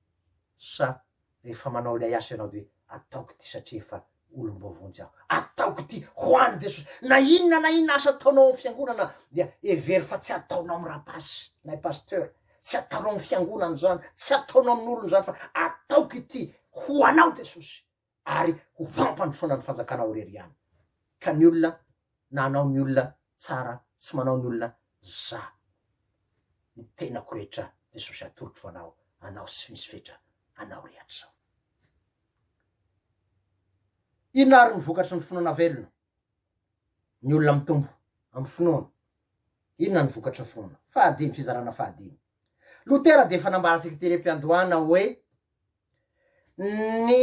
Sa rehefa manao ilay asa ianao dia ataoko ity satria efa olom-baovao jiaby. Ataoko ity ho an'i Jesosy. Na inona na inona asa ataonao amin'ny fiangonana dia hevero fa tsy ataonao amin'ny rapasy na i pasteur. Tsy ataonao amin'ny fiangonana izany, tsy ataonao amin'olona izany fa ataoko ity ho anao Jesosy ary ho fampandrosoana ny fanjakanao irery ihany. Ka ny olona na anao ny olona tsara tsy manao ny olona za ny tenako rehetra Jesosy atolotro anao, anao sy misy fetra anao rehetra izao. Inona àry no vokatry ny finoana velona? Ny olona mitombo amin'ny finoany. Inona no vokatry ny finoana? Fahadimy, fizarana fahadimy. Lotera dia efa nambara seketerem-piandohana hoe ny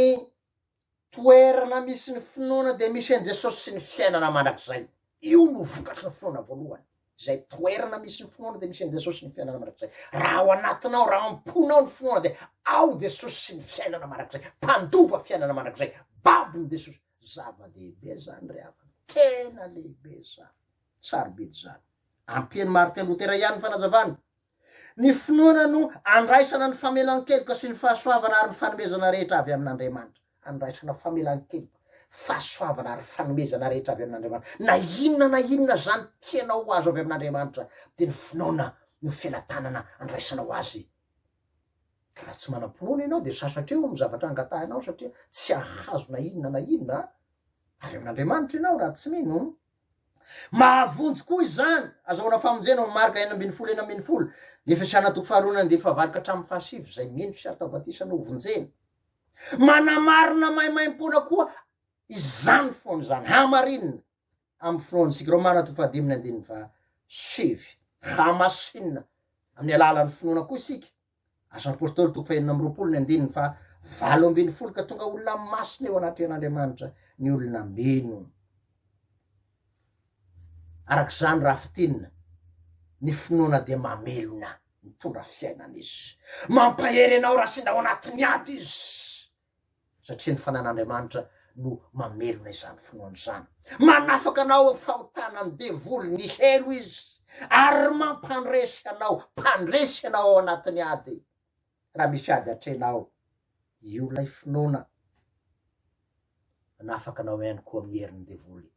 toerana misy ny finoana dia misy an'i Jesosy sy ny fiainana mandrakizay. Io no vokatry ny finoana voalohany. Izay toerana misy ny finoana dia misy an'i Jesosy sy ny fiainana mandrakizay. Raha ao anatinao, raha ao am-ponao ny finoana dia ao Jesosy sy ny fiainana mandrakizay. Mpandova fiainana mandrakizay. Babon'i Jesosy. Zava-dehibe izany ry havana. Tena lehibe izany. Sarobidy izany. Ampian'i Martin Lotera ihany ny fanazavany. Ny finoana no andraisana ny famelan-keloka sy ny fahasoavana ary ny fanomezana rehetra avy amin'Andriamanitra. Andraisana famelan-keloka, fahasoavana ary fanomezana rehetra avy amin'Andriamanitra. Na inona na inona izany tianao ho azo avy amin'Andriamanitra dia ny finoana no felatanana andraisanao azy. Ka raha tsy manam-pinoana ianao dia sasatra eo amin'ny zavatra angatahinao satria tsy hahazo na inona na inona avy amin'Andriamanitra ianao raha tsy mino. Mahavonjy koa izany, azahoana famonjena ao amin'ny marika enina ambin'ny folo enina ambin'ny folo Ny Efesiana toko faharoa ny andininy fahavalo ka hatramin'ny fahasivy, izay mino sy atao batisa no hovonjena. Manamarina maimaimpoana koa izany foana izany, hamarinina amin'ny finoantsika. Romana toko fahadimy ny andininy fahasivy. Hamasinina amin'ny alalan'ny finoana koa isika, Asan'ny Apôstôly toko fahenina amby roapolo ny andininy faha valo ambin'ny folo ka tonga olona masina eo anatrehan'Andriamanitra ny olona mino. Araka izany raha fitinina, ny finoana dia mamelona, mitondra fiainana izy. Mampahery anao raha sendra ao anatin'ny ady izy. Satria ny fanan'Andriamanitra no mamelona izany finoana izany. Manafaka anao amin'ny fahotanan'ny devoly ny helo izy, ary mampandresy anao, mpandresy anao ao anatin'ny ady. Raha misy ady atrehinao, io ilay finoana manafaka anao ihany koa amin'ny herin'ny devoly.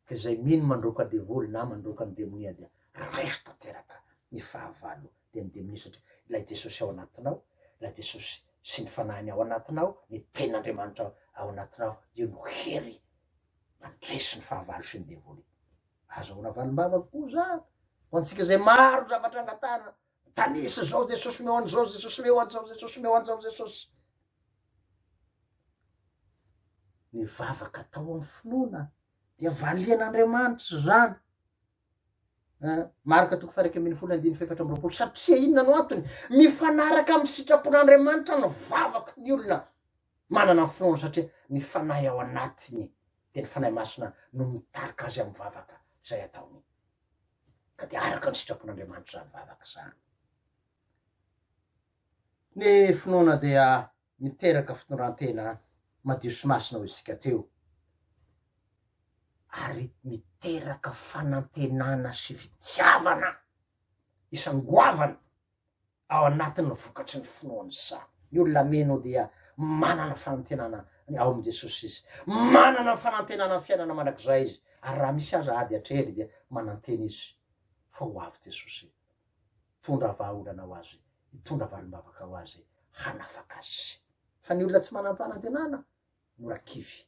Ka izay mino mandroaka devoly na mandroaka ny demonia dia raiso tanteraka ny fahavalo dia ny demonia satria ilay Jesosy ao anatinao, ilay Jesosy sy ny fanahiny ao anatinao, ny tenin'Andriamanitra ao anatinao, io no hery mandresy ny fahavalo sy ny devoly. Azahoana valim-bavaka koa izany ho antsika izay maro ny zavatra angatahana Mitanisa zao Jesosy omeo an'izao Jesosy leo an'izao Jesosy omeo an'izao Jesosy ny vavaka atao amin'ny finoana dia valian'Andriamanitra zany eh, marika toko faraika ambin'ny folo andiny fefatra ambyroapolo satria inona no antony mifanaraka amin'ny sitrapon'Andriamanitra ny vavaka ny olona manana ny finoana satria ny fanahy ao anatiny dia ny fanahy masina no mitarika azy amin'ny vavaka izay ataony ka dia araka ny sitrapon'Andriamanitra izany vavaka izany. Ny finoana dia miteraka fitondran-tena madio sy masina hoy isika teo, ary miteraka fanantenana sy fitiavana isangoavana ao anatin'ny vokatry ny finoany izany. Ny olona mino dia manana fanantenana ao amin'i Jesosy izy. Manana ny fanantenana ny fiainana mandrakizay izy. Ary raha misy aza ady atrehiny dia manantena izy fa ho avy Jesosy hitondra vahaolana ho azy, hitondra valim-bavaka ho azy, hanafaka azy. Fa ny olona tsy manam-panantenana mora kivy,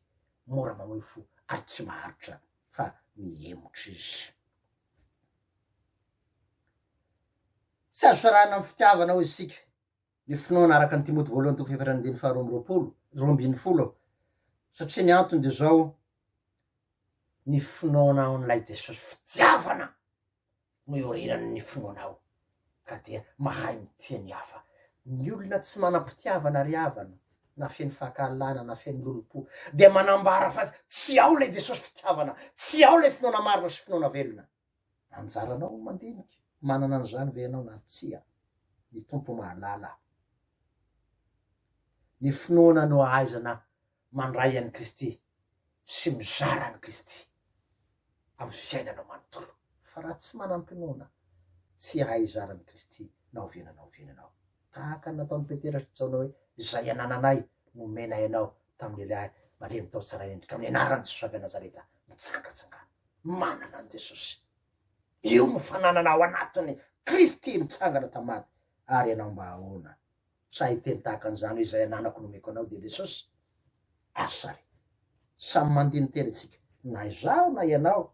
mora mamoy fo ary tsy maharitra fa mihemotra izy. Tsy azo sarahana amin'ny fitiavana hoy isika ny finoana araka ny Timoty voalohany toko efatra andininy faharoa amby roapolo, roa ambin'ny folo, satria ny antony dia izao, ny finoanao an'ilay Jesosy, fitiavana no iorinan'ny finoanao. ka dia mahay mitia ny hafa. Ny olona tsy manam-pitiavana ry havana, na feno fankahalana na feno lolompo, dia manambara fa tsy ao ilay Jesosy fitiavana, tsy ao ilay finoana marina sy finoana velona. Anjaranao ny mandinika, manana an'izany ve ianao na tsia? Ny Tompo mahalala. Ny finoana no ahaizana mandray an'i Kristy sy mizara an'i Kristy amin'ny fiainanao manontolo. Fa raha tsy manam-pinoana, tsy hahay hizara an'i Kristy na oviana na oviana ianao. Tahaka ny nataon'i Petera sy Jaona hoe, Izay anananay no omenay anao, tamin'ny lehilahy malemy tao tsara endrika, amin'ny anaran'i Jesosy avy any Nazareta, mitsangatsangano. Manana an'i Jesosy. Io no fananana ao anatin'i Kristy nitsangana tamin'ny maty. Ary ianao mba ahoana? Sa hiteny tahaka an'izany hoe izay ananako no omeko anao dia Jesosy? Asa ary! Samy mandiniteny isika, na izaho na ianao.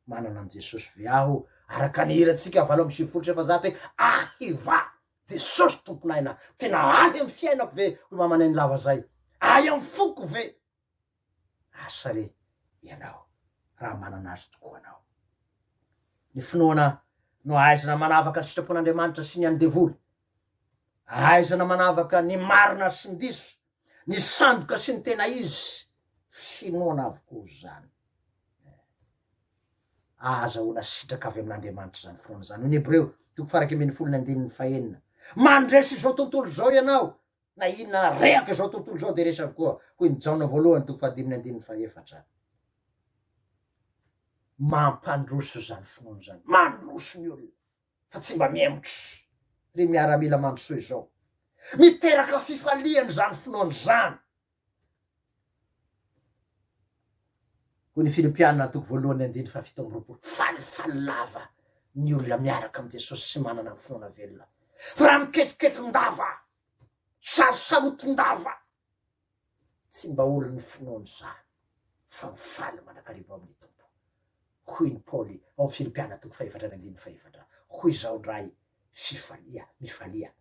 Manana an'i Jesosy ve aho? Araka ny hirantsika valo amby sivifolo sy efajato hoe Ahiva! Jesosy Tompon'aina, tena ahy amin'ny fiainako ve? hoy mamanay ny lava izay. Ahy amin'ny foko ve? Asa re ianao raha manana azy tokoa anao. Ny finoana no ahaizana manavaka ny sitrapon'Andriamanitra sy ny an'ny devoly. Ahaizana manavaka ny marina sy ny diso, ny sandoka sy ny tena izy. Finoana avokoa izany. Ahazahoana sitraka avy amin'Andriamanitra izany finoana izany. Ny Hebreo, toko farak'ambin'ny folo ny andininy fahenina. Mandresy izao tontolo izao ianao, Na inona ary, rehaka izao tontolo izao dia resy avokoa, hoy ny Jaona voalohany toko fahadimy ny andininy fahefatra. Mampandroso izany finoana izany, mandroso ny olona fa tsy mba mihemotra. Ry miaramila mandrosoa izao, miteraka fifaliana izany finoana izany. Hoy ny Filipiana toko voalohany andininy fahafito amby roapolo, Falifaly lava ny olona miaraka amin'i Jesosy sy manana ny finoana velona, fa raha miketoketondava, sarosarotin-dava, tsy mba olon'ny finoana izany, fa mifaly mandrakariva ao amin'ny Tompo. Hoy ny Paoly ao amin'ny Filipiana toko fahefatra amby andininy fahefatra, Hoy izao indray, fifalia, mifalia.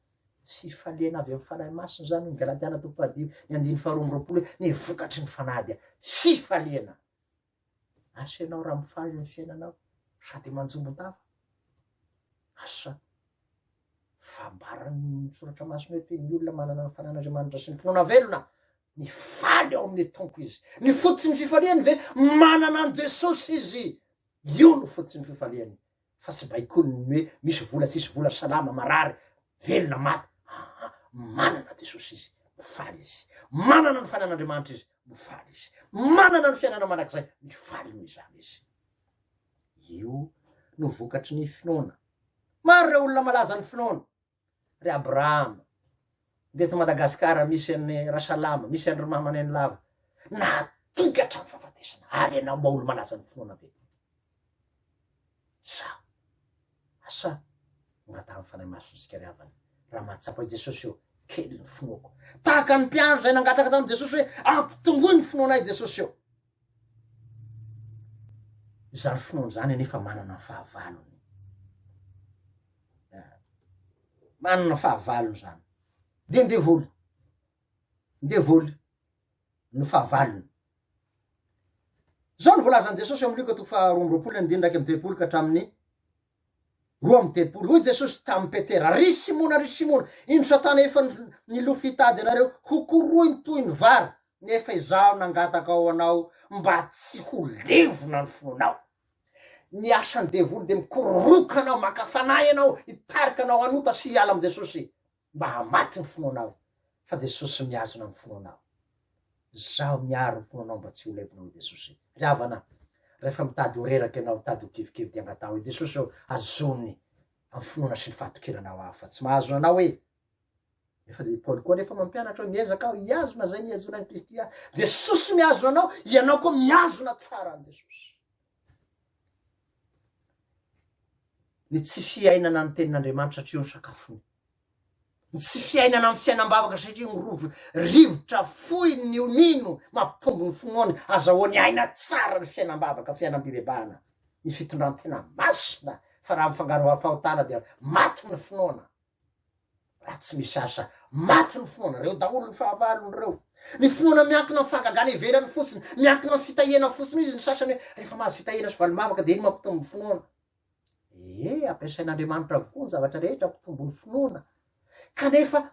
Fifaliana avy amin'ny Fanahy Masina izany ny Galatiana toko fahadimy ny andininy faharoa amby roapolo hoe ny vokatry ny Fanahy dia fifaliana. Asa ianao raha mifaly ny fiainanao sady manjombon-tava. Asa fambaran'ny soratra masina hoe ny olona manana ny fanan'Andriamanitra sy ny finoana velona ny faly ao amin'ny tompo izy. Ny fototsy ny fifaliany ve manana an'i Jesosy izy. Io no fototsy ny fifaliany. fa tsy baikony ny hoe misy vola tsisy vola salama marary velona maty aa manana jesosy izy mifaly izy manana ny fanan'andriamanitra izy mifaly izy manana ny fiainana mandrakizay mifaly noho izany izy io no vokatry ny finoana maro ireo olona malaza ny finoana ry Abrahama dia eto Madagasikara misy an'i Rasalama, misy an-dry Mama Nenilava nahatoky hatramin'ny fahafatesana ary ianao mba olo-malaza ny finoana ve? Sa asa angatahan'ny Fanahy Masina isika ry havana raha mahatsapa i Jesosy eo kely ny finoako tahaka ny mpiandry izay nangataka tamin'i Jesosy hoe ampitomboy ny finoanay Jesosy eo. Izany finoana izany anefa manana ny fahavalony. Eh, manana fahavalony izany. Dia ndevoly. Ndevoly ny fahavalony. Izao no voalazan'i Jesosy amin'ny Lioka toko faharoa amby roapolo andininy iraika amby telopolo ka hatramin'ny Roa amby diapolo. Hoy Jesosy tamin'i Petera, Ry Simona, ry Simona, indro Satana efa nilofo hitady anareo ho korohiny toy ny vary, nefa izaho nangataka ho anao mba tsy ho levona ny fonao. Ny asan'ny devoly dia mikororoka anao, maka fanahy ianao, hitarika anao hanota sy hiala amin'i Jesosy. mba hamaty ny finoanao fa Jesosy mihazona ny finoanao izaho miaro ny finoanao mba tsy ho levona hoy Jesosy ry havana rehefa mitady ho reraka ianao mitady ho kivikivy dia angataho hoe Jesosy ô azony amin'ny finoana sy ny fahatokiranao aho fa tsy mahazona anao hoe efa dia Paoly koa nefa mampianatra hoe miezaka aho hihazona izay nihazona an'i Kristy aho Jesosy mihazona anao ianao koa mihazona tsara an'i Jesosy Ny tsy fiainana ny tenin'Andriamanitra satria io no sakafony. Ny tsy fiainana amin'ny fiainam-bavaka satria io no rovony. Rivotra fohy ny ho mino, mampimpongo ny finoany, azahoany aina tsara ny fiainam-bavaka, fiainam-pibebahana, ny fitondran-tena masina, fa raha mifangaro amin'ny fahotana dia maty ny finoana. Raha tsy misy asa, maty ny finoana. Ireo daholo ny fahavalony ireo. Ny finoana miankina amin'ny fahagagana ivelany fotsiny, miankina amin'ny fitahiana fotsiny. Hoy izy ny sasany hoe, rehefa mahazo fitahiana sy valim-bavaka dia iny mampitombo ny finoana. Ee, ampiasain'Andriamanitra avokoa ny zavatra rehetra hampitombo ny finoana. Kanefa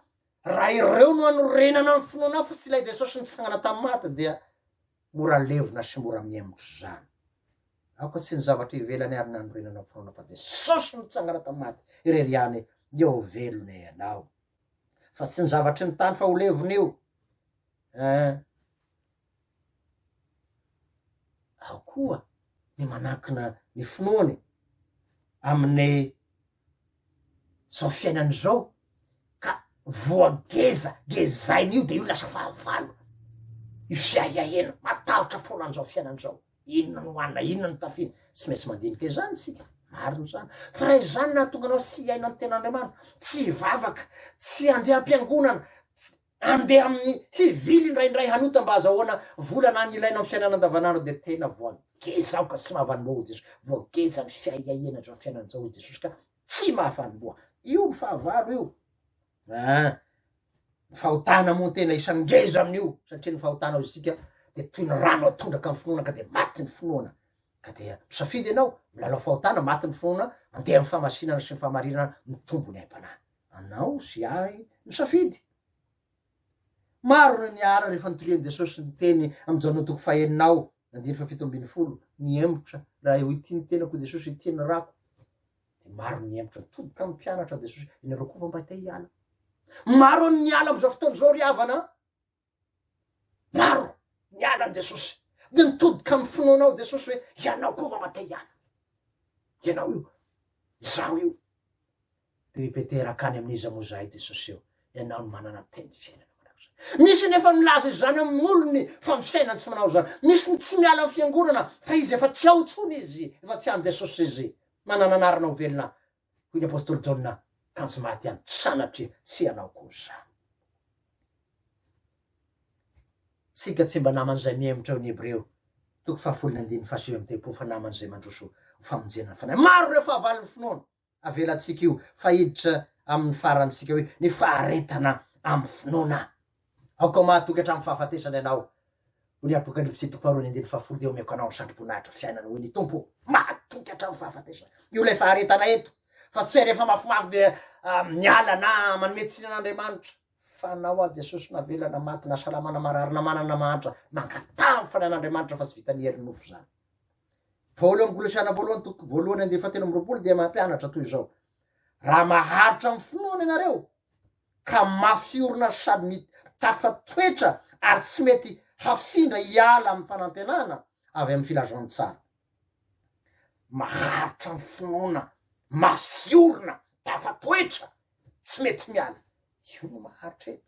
raha ireo no hanorenana ny finoanao fa tsy ilay Jesosy nitsangana tamin'ny maty dia Mora levona sy mora mihemotra izany. Aoka tsy ny zavatra ivelany ary nanorenana ny finoana fa Jesosy nitsangana tamin'ny maty irery ihany dia ho velona ianao. Fa tsy ny zavatry ny tany fa ho levona io. Eh. Ao koa ny manankina ny finoany amin'ny zao fiainana izao ka voa ngeza ngezaina io de io lasa fahavalo io fiahiahiana matahotra foana an'izao fiainana izao inona no hoanina inona no tafina tsy maintsy mandinika izany isika marina izany fa raha izany nahatonga anao tsy hiaina ny tenan'Andriamanitra tsy hivavaka tsy handeha am-piangonana Andeha amin'ny hivily indraindray hanota mba azahoana vola na ny ilaina amin'ny fiainana andavanandro dia tena voageja aho ka tsy mahavanim-boa hoy Jesosy. Voageja ny fiaiaiana izao fiainana izao hoy Jesosy ka tsy mahavanim-boa. Io ny fahavalo io. Ah, ny fahotana moa ny tena isan'ny ngeza amin'io satria ny fahotana ao isika dia toy ny rano atondraka amin'ny finoana ka dia maty ny finoana. Ka dia misafidy ianao, milalao fahotana, maty ny finoana, mandeha amin'ny famasinana sy ny fahamarinana, mitombo ny aim-panahy. Anao sy ahy no safidy. Maro no niara rehefa nitorian'i Jesosy ny teny amin'ny Jaona toko fahenina ao, andininy fahafito ambin'ny folo, Nihemotra raha eo ity ny tenako i Jesosy ity ny rako. Dia maro ny nihemotra nitoboka amin'ny mpianatra Jesosy, ianareo koa va mba te hiala? Maro ny niala amin'izao fotoana izao ry havana an! Maro niala an'i Jesosy dia nitodika amin'ny finoana ao Jesosy hoe ianao koa vao mba te hiala. Ianao io, izaho io. Dia i Petera akany amin'iza moa izahay Jesosy eo, ianao no manana teny fiainana. Misy ny efa milaza izany amin'ny olony fa ny fiainany tsy manao izany. Misy ny tsy miala amin'ny fiangonana fa izy efa tsy ao intsony izy, efa tsy any Jesosy izy. Manana anarana ho velona Hoy ny apostoly Jaona, Kanjo maty ihany, sanatria tsy ianao koa izany. Isika tsy mba naman'izay mihemotra ao ny Hebreo, toko fahafolo ny andininy fahasivy amby telopolo, fa naman'izay mandroso ho famonjena ny fanahy. Maro ireo fahavalon'ny finoana avelantsika io, fa hiditra amin'ny farantsika hoe ny faharetana amin'ny finoana. Aoka mahatoky hatramin'ny fahafatesana ianao, hoy ny Apokalypsy toko faharoa ny andininy fahafolo, dia omeko anao ny satroboninahitra fiainana, hoy ny Tompo. Mahatoky hatramin'ny fahafatesana. Io ilay faharetana eto, fa tsy hoe rehefa mafimafy dia miala na manome tsiny an'Andriamanitra. Fanao aho Jesosy na vela na maty na salama na marary na manana na mahantra, mangataha ny fanahin'Andriamanitra fa tsy vitan'ny herin'ny nofo izany. Paoly amin'ny Kolosiana voalohany toko voalohany andininy fahatelo amby roapolo dia mampianatra toy izao, Raha maharitra amin'ny finoana ianareo, ka mafy orina sady mitafa toetra ary tsy mety hafindra hiala amin'ny fanantenana avy amin'ny filazantsara. Maharitra ny finoana mafy orina, tafa toetra, tsy mety miala. Io no maharitra eto.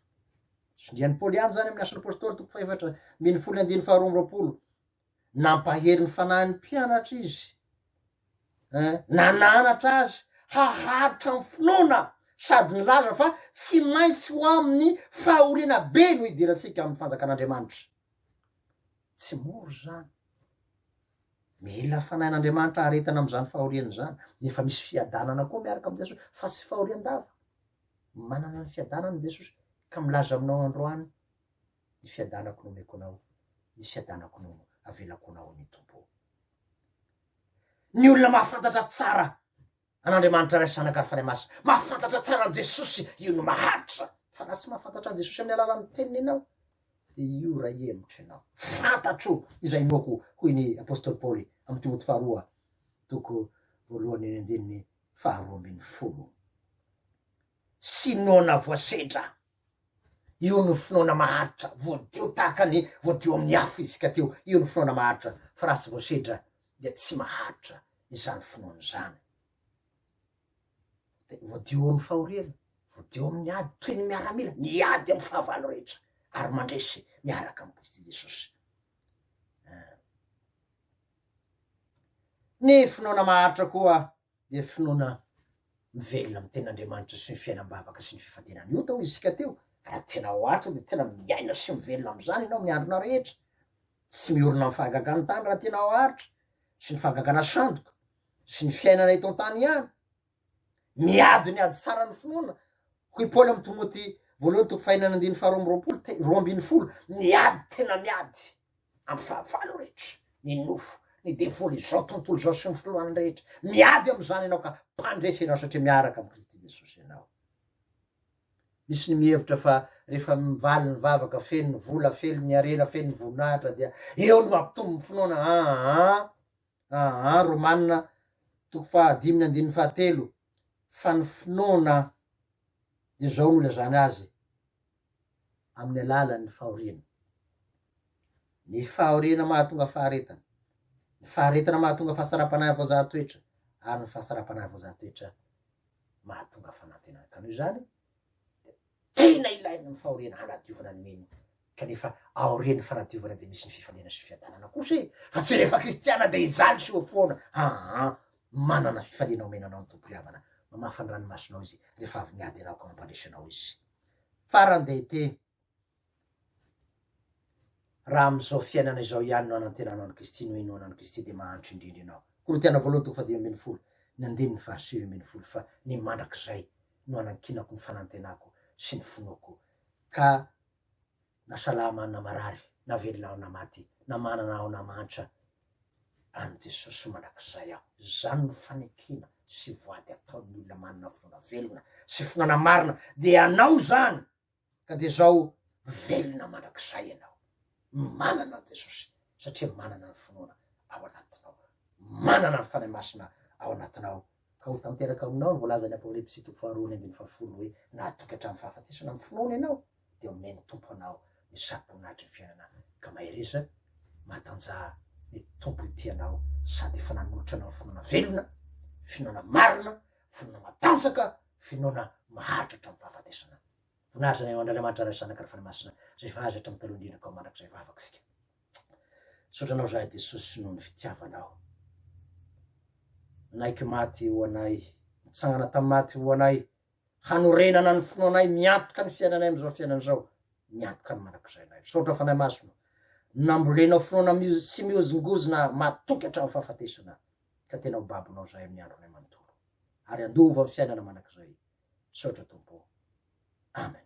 Tsindrian'i Paoly ihany izany amin'ny Asan'ny Apostoly toko fahefatra ambin'ny folo andininy faharoa amby roapolo. Nampahery ny fanahin'ny mpianatra izy. Nananatra azy haharitra ny finoana sady nilaza fa tsy maintsy ho amin'ny fahoriana be no hidirantsika amin'ny Fanjakan'Andriamanitra. Tsy mora izany. Mila fanahin'Andriamanitra haharetana amin'izany fahoriana izany, nefa misy fiadanana koa miaraka amin'i Jesosy fa tsy fahorian-dava. Manana ny fiadanana i Jesosy ka milaza aminao androany. ny fiadanako no omeko anao, ny fiadanako no avelako anao ny Tompo ô. Ny olona mahafantatra tsara an'Andriamanitra Ray sy Zanaka ary Fanahy Masina, mahafantatra tsara an'i Jesosy, io no maharitra, fa raha tsy mahafantatra an'i Jesosy amin'ny alalan'ny teniny ianao, dia io iray hemotra ianao, fantatro izay inoako, hoy ny Apostoly Paoly amin'i Timoty faharoa, toko voalohany eny andininy faharoa ambin'ny folo. Sinoana voasedra. Io no finoana maharitra, voadio tahaka ny voadio amin'ny afo isika teo, io no finoana maharitra, fa raha tsy voasedra dia tsy maharitra izany finoana izany. Dia voadio amin'ny fahoriana, voadio amin'ny ady, toy ny miaramila, miady amin'ny fahavalo rehetra, ary mandresy miaraka amin'i Kristy Jesosy. Ny finoana maharitra koa dia finoana mivelona amin'ny Tenin'Andriamanitra sy ny fiainam-bavaka sy ny fifantenana. Io tao isika teo, ka raha tena ao Atra dia tena miaina sy mivelona amin'izany ianao amin'ny andronao rehetra. Tsy miorina amin'ny fahagagan'ny tany raha tena ao Atra sy ny fahagagana sandoka sy ny fiainana eto an-tany ihany. Miady ny ady tsara ny finoana, hoy Paoly amin'ny Timoty voalohany toko fahenina andininy faharoa amby roapolo, te, roa ambin'ny folo, miady tena miady. Andro fahavalo rehetra, ny nofo, ny devoly, izao tontolo izao sy ny filohan'ny rehetra, miady amin'izany ianao ka mpandresy ianao satria miaraka amin'i Kristy Jesosy ianao. Misy ny mihevitra fa rehefa mivaly ny vavaka, feno ny vola, feno ny harena, feno ny voninahitra dia eo no hampitombo ny finoana. Aa, aa, Romana toko fahadimy ny andininy fahatelo, fa ny finoana dia izao no ilazana azy, amin'ny alalan'ny fahoriana. Ny fahoriana mahatonga faharetana, ny faharetana mahatonga fahasaram-panahy voazaha toetra, ary ny fahasaram-panahy voazaha toetra mahatonga fanantenana. Ka noho izany, dia tena ilaina ny fahoriana hanadiovana ny mino, kanefa aorian'ny fanadiovana dia misy ny fifaliana sy fiadanana kosa e! Fa tsy rehefa kristiana dia hijaly sy ho foana, aa, manana fifaliana omena anao ny Tompo ry havana, mamafa ny ranomasonao Izy rehefa avy miady ianao ka mampandresy anao Izy. Faran-dehibe, raha amin'izao fiainana izao ihany no hanantenanao an'i Kristy, no hinoanao an'i Kristy, dia mahantra indrindra ianao. Korintiana Voalohany toko fahadimy ambin'ny folo, ny andininy fahasivy ambin'ny folo, Fa ny mandrakizay no anankinako ny fanantenako sy ny finoako, ka. Na salama na marary, na velona aho na maty, na manana aho na mahantra, an'i Jesosy mandrakizay aho. Izany no fanekena sy voady ataon'ny olona manana finoana velona sy finoana marina, dia hanao izany ka dia izao velona mandrakizay ianao. Manana an'i Jesosy satria manana ny finoana ao anatinao, manana ny Fanahy Masina ao anatinao Ka ho tanteraka aminao ny voalazan'ny Apokalypsy sy toko faharoa ny andininy fahafolo hoe, Na hatoky hatramin'ny fahafatesana amin'ny finoana ianao, dia homey ny Tompo anao ny saroboninahitry ny fiainana. Ka mahereza, matanjaha, ny Tompo hitia anao sady efa nanolotra anao ny finoana velona, finoana marina, finoana matanjaka, finoana maharitra hatramin'ny fahafatesana. Voninahitra ny anao Andriamanitra Ray, Zanaka ary Fanahy Masina, izay efa azy hatramin'ny taloha indrindra ka ho mandrakizay vavaka isika. Misaotra anao zahay Jesosy noho ny fitiavanao. Nanaiky maty ho anay, nitsangana tamin'ny maty ho anay, hanorenana ny finoanay, miantoka ny fiainanay amin'izao fiainana izao, miantoka ny mandrakizay anay. Misaotra fanahy masina, nambolenao finoana tsy mihozongozona matoky hatramin'ny fahafatesana, ka tena ho babonao zahay amin'ny andronay manontolo, ary handova ny fiainana mandrakizay. Misaotra Tompo. Amen.